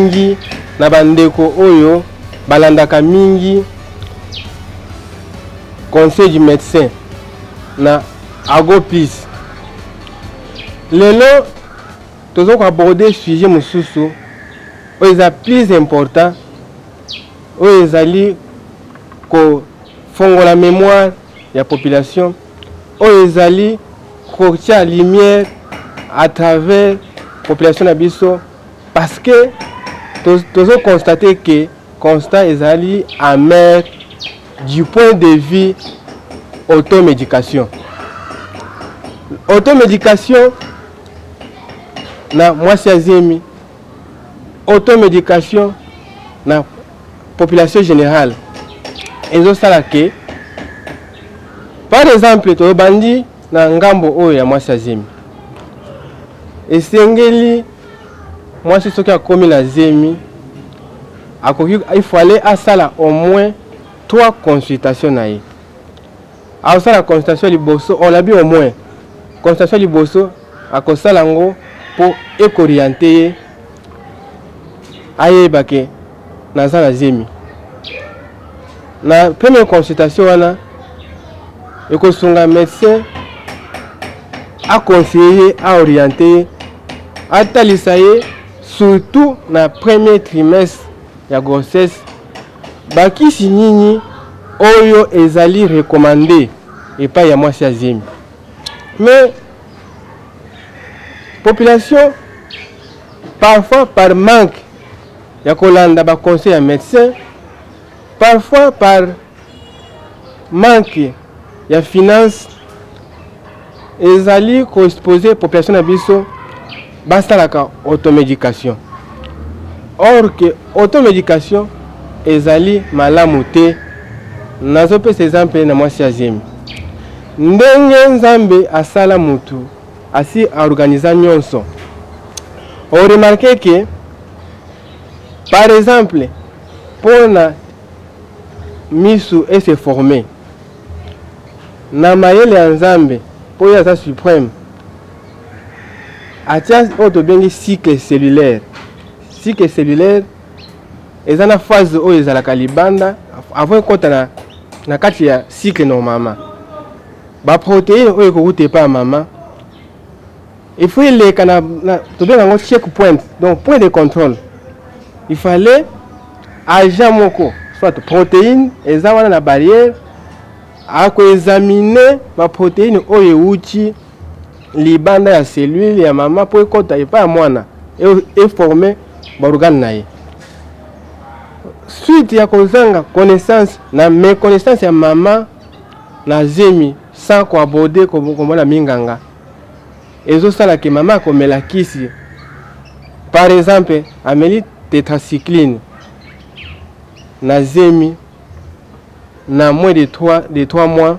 mingi na bandeko oyo balandaka mingi conseil du médecin na agopis lelo toza koaborde sujet mosusu oyo eza plus important oyo ezali kofongola mémoire ya population oyo ezali kotia lumière à travers population na biso parce que tozo constate que constat ezali amer du point de vue automédication automédication na mwasi ya zemi automédication na population générale ezosala ke par exemple tobandi na ngambo oyo ya mwasi ya zemi esengeli mwasi soki akomi na zemi akoki il fallait asala au moins trois consultation na ye aosala consultation liboso on abi au moins consultation liboso akosala yango mpo ekoriente ye ayeba ke naza na zemi na première consultation wana ekosunga médecin aconseille ye aoriente ye atalisa ye surtout na premier trimestre ya grossesse bakisi nini oyo ezali recommande epai ya mwasi ya zemi mais population parfois par manque ya kolanda baconseil ya médecin parfois par manque ya finance ezali koexpose population na biso basalaka automedication or que automedication ezali malamu te nazopesa ezample na mwasi ya zemi ndenge nzambe asala mutu asi aorganiza nyonso oremarke ke par exemple mpo na misu ese forme na mayele ya nzambe mpo ye aza supreme atia oyo tobengi cycle cellulaire cycle cellulaire eza na phase oyo ezalaka libanda avant ekota na, na kati ya cycle normalement baproteine oyo ekowuta epai ya mama il faut eleka na, na tobenga yango check point donc point de contrôle il fallait agent moko soit protéine eza wana na barrière akoexamine baproteine oyo ewuti libanda ya cellule ya mama mpo ekɔta epai ya mwana eforme e baorgane na ye suite ya kozanga connaissance na méconnaissance ya mama na zemi sans koaborde komona minganga ezosala ke mama akomela kisi par exemple ameli tetracycline na zemi na moins de 3, de 3 mois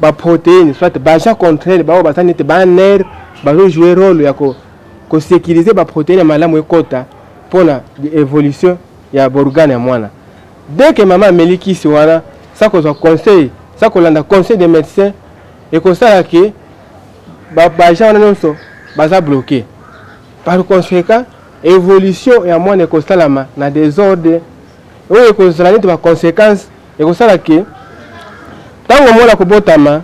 baproteine soit baja contraire baoyo baza nete baner bazojoue role ya kosekirize ko baproteine ya malamu ekota mpona évolution ya borgane ya mwana deke mama ameli kisi wana sa kozwa conseil sa kolanda conseil de médecin ekosala ke baja wana nyonso baza bloqué par conséquent évolution ya mwana ekosalama na desordre oyo ekozala neti baconséquence ekosala ke ntango mwana akobotama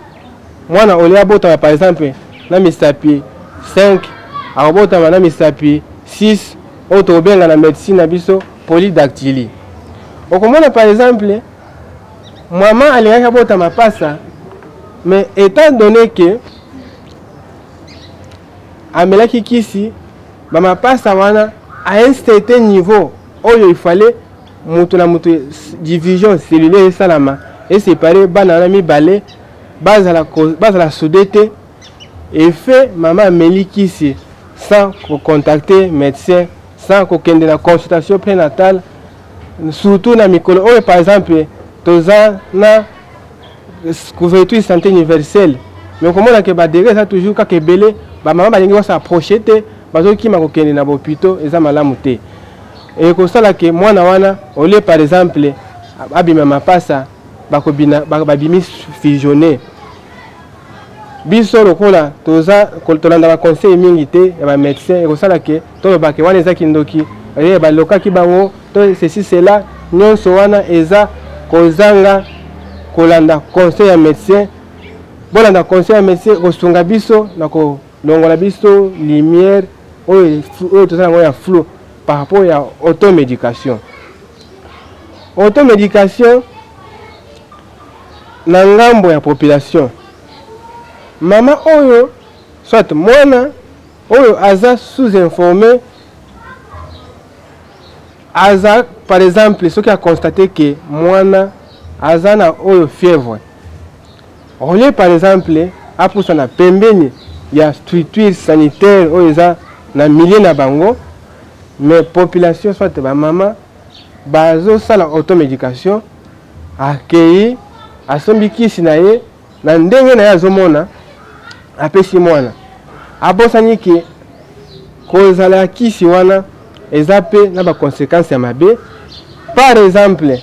mwana olie abotama par exemple na misapi 5 akobotama na misapi 6 oyo tokobenga na médecine na biso polydactylie okomona par exemple mama alingaki abota mapasa mais étant donné que amelaki kisi bamapasa wana à un certain niveau oyo il fallait moto na moto division cellulaire esalama esepare bana wana mibale bazala, bazala soude te efe mama ameli kisi sans kocontacte médecin sans kokende na consultation prénatale surtout na mikolo oyo par exemple toza na couverture santé universelle mais okomona ke badegre eza toujours kaka ebele bamama balingi baso approche te bazokima kokende na bopito eza malamu te Et ekosala ke mwana wana olie par exemple abima mapasa bakobina babimi fusionne biso lokola toza tolandaka conseil mingi te ya bamédecin ekosala ke toloba ke wana eza kindoki eh, balokaki bango to ceci cela nyonso wana eza kozanga kolanda conseil ya médecin bolanda conseil ya médecin kosunga biso na ko longola biso lumière oyo oyo toza yango ya flou par rapport ya automédication automédication na ngambo ya population mama oyo soit mwana oyo aza sous informé aza par exemple soki aconstate ke mwana aza na oyo fièvre Au lieu par exemple apusana pembeni ya structure sanitaire oyo eza na milieu na bango mais population soit bamama bazosala automédication akei asombi kisi na ye na ndenge na ye azomona apesi mwana abosani ke kozala ya kisi wana eza mpe na baconséquence ya mabe par exemple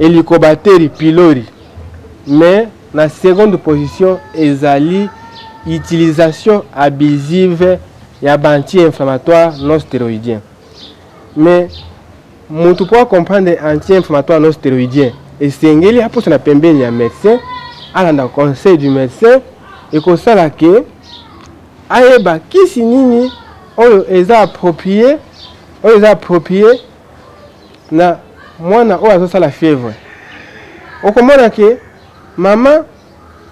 eliko bateri pilori mais na seconde position ezali utilisation abusive ya baanti-inflammatoire non stéroïdien mais moto mpo acomprendre anti-inflammatoire non stéroïdien esengeli aposa na pembeni ya médecin alanda conseil du médecin ekosala ke ayeba kisi nini oyo eza approprié oyo eza approprié na mwana oyo azosala fièvre okomona ke mama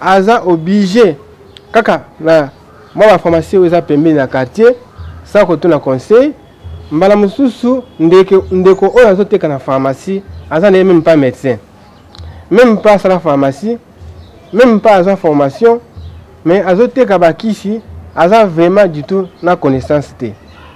aza oblige kaka na mwa bapharmacie oyo eza pembeni na quartier sa kotuna conseil mbala mosusu ndeko, ndeko oyo azoteka na pharmacie aza na ye meme pas médecin meme pas asala pharmacie meme pas aza formation mais azoteka bakisi aza vraiment du tout na connaissance te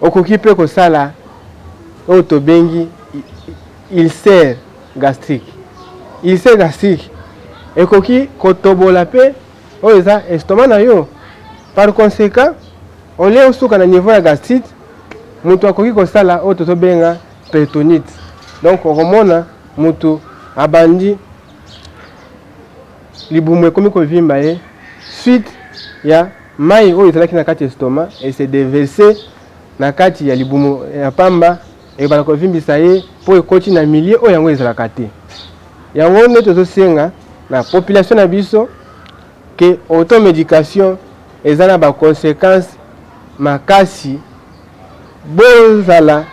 Okoki mpe kosala oyo tobengi ulcère gastrique. Ulcère gastrique ekoki kotobola mpe oyo eza estomac na yo. Par conséquent, au lieu osuka na niveau ya gastrite, moto akoki kosala oyo tozobenga peritonite. Donc okomona moto abandi libumu ekomi kovimba ye suite ya mai oyo ezalaki na kati ya estoma ese deverse na kati ya libumu ya pamba ekobanda kovimbisa ye mpo ekoti na milie oyo yango ezalaka te yango nde tozosenga na population na biso ke automedication eza na baconséquence makasi bozala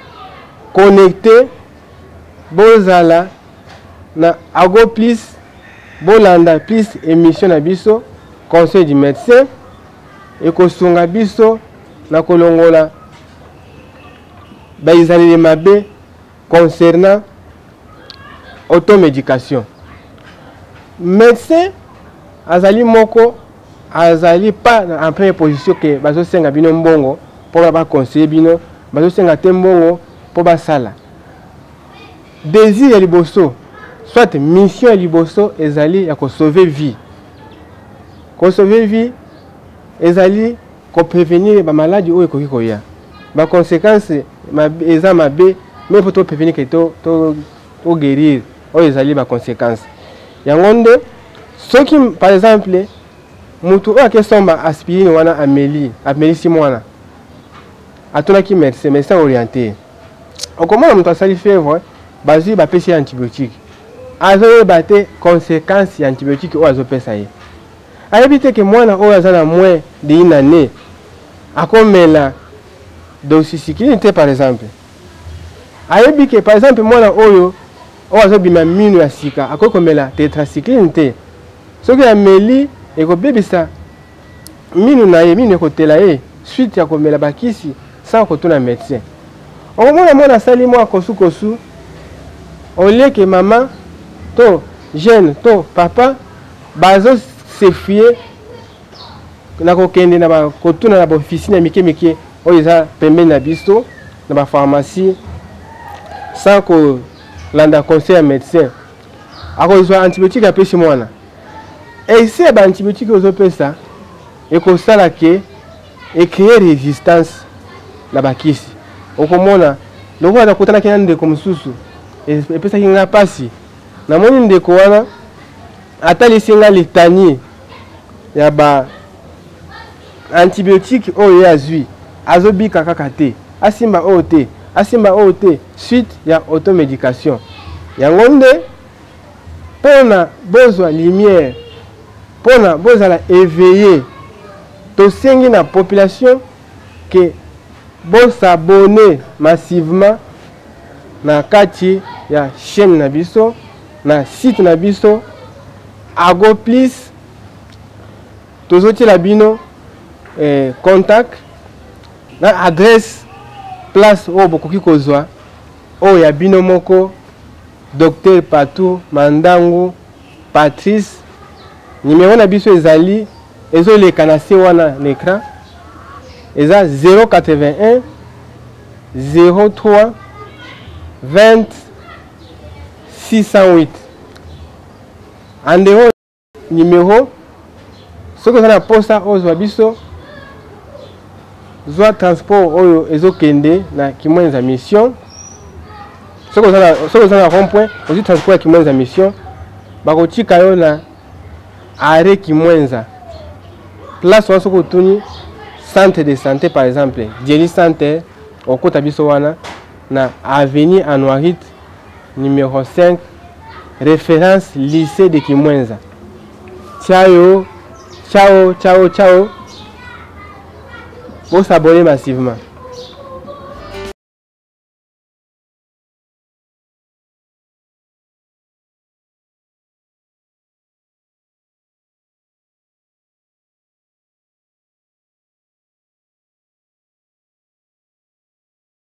connecte bozala na ago plus bolanda plus émission na biso conseil du médecin ekosunga biso na kolongola baizaleli mabe concernant automédication médecin azali moko azali pas en première position ke bazosenga bino mbongo mpo baconseille bino bazosenga te mbongo mpo basala désir ya liboso soit mission ya liboso ezali ya kosauve vie kosauve vie ezali koprevenir bamaladi oyo ekoki koya baconséquence eza mabe me mpo toprevenir ke toguérir to, to oyo ezali ba consequence yango nde soki par exemple motu oyo akesomba aspirine wana ameli amelisi mwana atunaki médecin médecin orienté okomona moto asali fièvre bazwi bapesi ye antibiotique azoyeba te conséquence ya antibiotique oyo azopesa ye ayebi te ke mwana oyo aza na moins de une année akomela doxycycline te par exemple ayebi ke par exemple mwana oyo oyo azobima mino ya sika akoki komela tetracycline te soki ameli ekobebisa minu na ye minu ekotela ye suite ya komela bakisi sans kotuna médecin okomona mwana asali mwa kosukosu olieke mama to jeune to papa bazosefie nakokende na kotuna na baofisine ya mike mike oyo eza pembeni na biso na bapharmacie sans kolanda conseil ya médecin akozwa antibiotique apesi mwana ese ya baantibiotique oyo ozopesa ekosala ke ecree résistance na bakisi okomona lokola nakutanaki na ndeko mosusu epesaki ngai mpasi namoni ndeko wana atalisi ngai litanie ya ba antibiotique oyo ye azwi azobika kaka te asimba oyo te asimba oyo te suite ya automedication yango nde mpo na bozwa lumière mpo na bozala éveillé tosengi na population ke bosabone massivement na kati ya chaîne na biso na site na biso Ago plus tozotiela bino eh, contact na adresse place oyo bokoki kozwa oyo ya bino moko docteur patou mandangu patrice nimero na biso ezali ezoleka na se wana na écran eza 081 03 20 608 en dehors numéro soki oza na posa ozwa biso zwa transport oyo ezokende na kimwenza mission soki oza na rond point ozwi transport ya kimwenza mission bakotika yo na arret kimwenza place wana soki otuni centre de santé par exemple dieli centre okota biso wana na avenue Anuarite numero 5 reference lycée de Kimwenza. Ciao, ciao, ciao, ciao. Vous s'abonnez massivement.